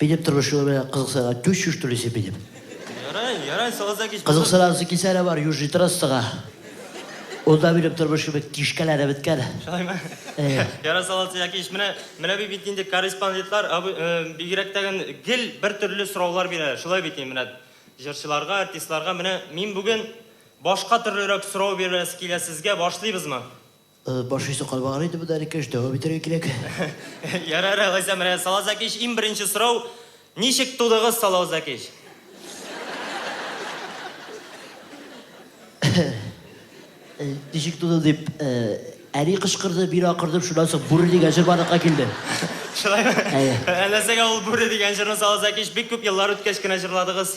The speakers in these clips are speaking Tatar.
Минем тормыш юлы белән кызыксынырга түз чушь түлисе минем. Ярай, ярай, сагызда кич. Кызыксынасы килсә дә бар, Южный трассага. Унда минем тормыш кебек кишкәләре беткән. Шулаймы? Әйе. Ярай, саласы яки ич. Менә, менә бит бит инде корреспондентлар, абы, э, бигрәк тәген гел бер төрле сораулар бирәләр. Шулай бит инде, менә җырчыларга, артистларга. Менә мин бүген башка төрлерәк сорау бирәсе килә сезгә. Башлыйбызмы? Баш исе калмаган инде монда әле кеш, дәвам итәргә кирәк. Ярар, алайса менә Салау Зәкич иң беренче сорау, ничек тудыгыз Салау Зәкич? Ничек тудым дип, әни кычкырды, мин акырдым, шуннан соң Бүре дигән җыр барлыкка килде. Шулаймы? Әйе. Ә нәрсәгә ул Бүре дигән җырны Салау Зәкич бик күп еллар үткәч кенә җырладыгыз?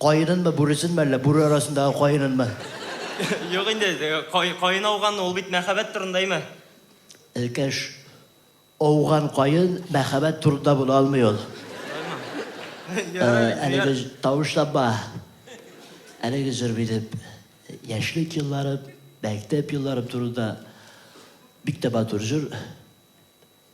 Каенынмы, бүресенме әллә, бүре арасындагы каенынмы? Юк инде, каен ауган, ул бит мәхәббәт турында, әйме? Эркәш, ауган каен мәхәббәт турында була алмый ул. Әлеге тавышланма. Әлеге җыр минем яшьлек елларым, мәктәп елларым турында бик тә матур җыр.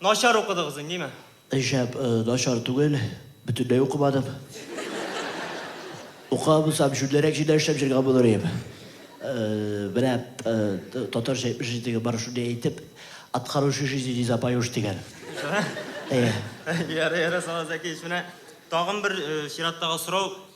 Начар укыдыгыз ин, диме? Шәп, начар түгел, бөтенләй укымадым. Укыган булсам, җүнлерәк җирдә эшләп җөргән булыр идем. Менә татарча әйтмешли җитеге бар шундый әйтеп, откороче жизни не запоешь дигән. Ярый, ярый, Салават Зәкиевич, менә тагын бер чираттагы сорау,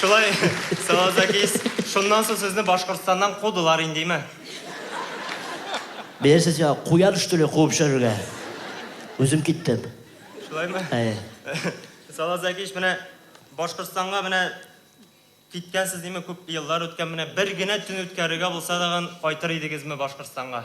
Шулай, Салазакис, шуннан соң сезне Башкортстаннан кудылар индиме? Беләсез я, куян что ли куып җөрергә? Үзем киттем. Шулаймы? Әйе. Салазакис, менә Башкортстанга менә киткәнсез диме, күп еллар үткән, менә бер генә төн үткәрергә булса тагын кайтыр идегезме Башкортстанга?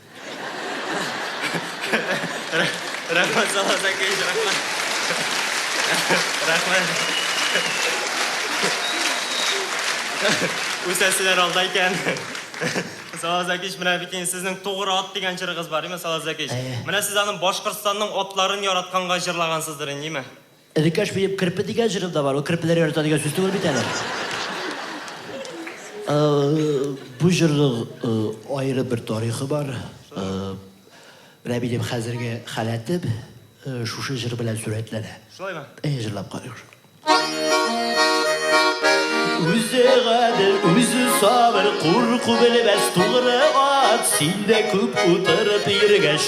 Рәхмәт, Салават Әкиевич, рәхмәт. Рәхмәт. Үсәселәр алда икән. Салават Әкиевич, менә бит инде сезнең Тугры ат дигән җырыгыз бар, име, Салават Әкиевич? Әйе. Менә сез аның Башкортстанның атларын яратканга җырлагансыздыр инде, име? Элеккәш биеп керпе дигән җыры да бар. Ул керпеләр ярата дигән сүз түгел бит әле. Бу җырның аеры бер тарихы бар. Рәбинең хәзерге халәте шушы җыр белән сурәтләнә. Шулаймы? Әйе, җырлап карыйк. Үзе гадел, үзе сабыр, курку белмәс тугры ат, син дә күп утырып йөргәч,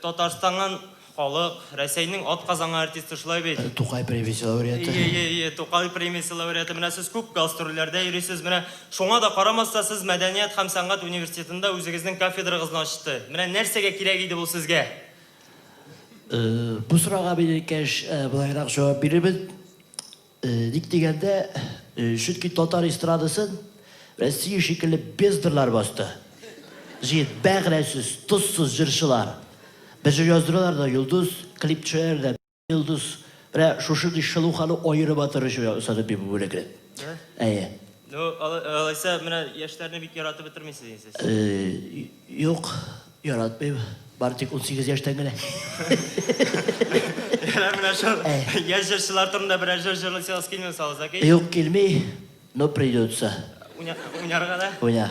Татарстаннан халык, Рәсәйнең атказангы артисты, шулай бит? Тукай премиясе лауреаты. Ие, ие, ие, Тукай премиясе лауреаты. Менә сез күп гастрольләрдә йөрисез. Менә шуңа да карамастан, сез Мәдәният һәм сәнгать университетында үзегезнең кафедрагызны ачты. Менә нәрсәгә кирәк иде бу сезгә? Бу сорауга бирелгәч, болайрак җавап бирербез. Ник дигәндә, чөнки татар эстрадасын Россия шикелле бездрлар басты. Җыен, бәгърәсез, тозсыз җырчылар. Бер җыр яздыралар да, йолдыз, клипчылар да, йолдыз. Менә шушындый Шылу хану аерым матур җыр ясады бит бу бүлекне. Әйе. Ну, алайса, менә яшьләрне бик яратып бетермисез инде сез. Юк. Яратмыйм, бары тик унсигез яшьтән генә. Ярар, менә шул яшь җырчылар турында берәр җыр җырлыйсы яз килмиме соң, Закир? Юк, килми, но придется. Уйна, уйнарга да? Уйна.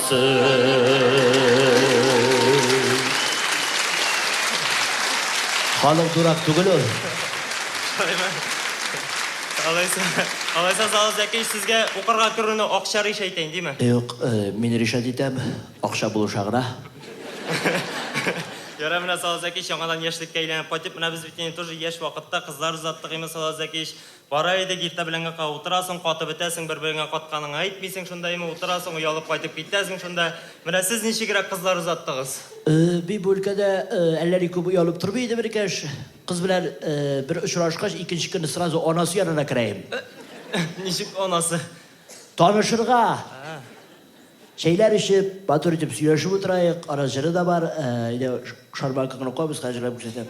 Ханым дурак түгел ул. Алайса, алайса Зал Зәкич сезгә укырга керүне акча ришә итәйин, диме? Юк, мин ришәт итәм, акча булыша гына. Ярай, менә Зал Зәкич яңадан яшьлеккә әйләнеп кайтып, менә без бит инде тоже яшь вакытта кызлар озаттык инде, Зал Зәкич. Бара идек, иртә белән гакка утырасың, катып бетәсең, бер-береңә катканыңны әйтмисең, шунда имә утырасың, оялып кайтып китәсең шунда. Менә сез ничегрәк кызлар озаттыгыз? Бу өлкәдә әллә ни күп оялып тормый идем, энекәш. Кыз белән бер очрашкач, икенче көнне сразу анасы янына керәем. Ничек анасы? Танышырга. Чәйләр эчеп, матур итеп сөйләшеп утыраек. Ара җыры да бар. Әйдә, Шарбан Кокнокобыз хәзер җырлап күрсәтә.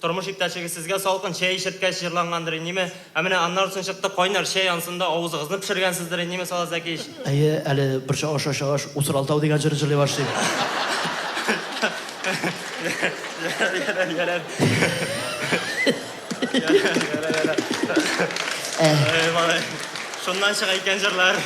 Тормыш иптәшегез сезгә салкын чәй эчерткәч җырлангандыр иниме? Ә менә аннары соң чыкты, кайнар чәй ансында авызыгызны пешергәнсездер иниме, Сала Зәкич? Әйе, әле бер чагыш ачагач, Усралтау дигән җырны җырлый башлыйм. Ярар, ярар. Ярар, ярар. Әй, малай. Шуннан чыга икән җырлар.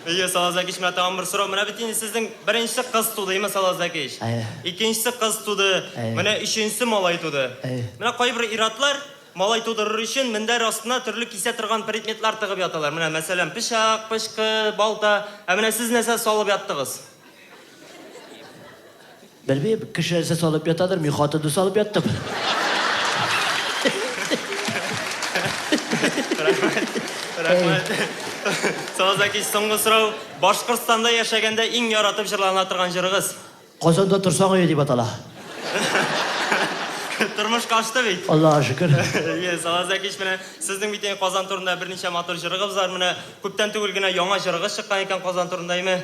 Әйе, Салазәкич, менә тагын бер сорау. Менә бит инде сезнең беренче кыз туды, әйеме, Салазәкич? Әйе. Икенче кыз туды, Әйе. менә өченче малай туды. Әйе. Менә кайбер ир-атлар малай тудырыр өчен мендәр астына төрле кисә торган предметлар тыгып яталар. Менә, мәсәлән, пычак, пычкы, балта. Ә менә сез нәрсә салып яттыгыз? Белмим, кеше нәрсә салып ятадыр, мин хатынны салып яттым. Рәхмәт. Сазаки, соңгы сорау. Башкортстанда яшәгәндә иң яратып җырлана торган җырыгыз? Казанда торсаң өе дип атала. Тормыш кашты бит. Аллага шөкер. Ие, Салазакич менә сезнең бит Казан турында берничә матур җырыгыз бар. Менә күптән түгел генә яңа җырыгыз чыккан икән Казан турында, име?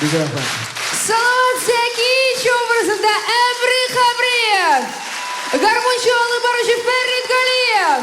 Бик рәхмәт. Салават Зәкиевич образында Әмри Хәбриев, гармунчы алып баручы Фәрит Галиев.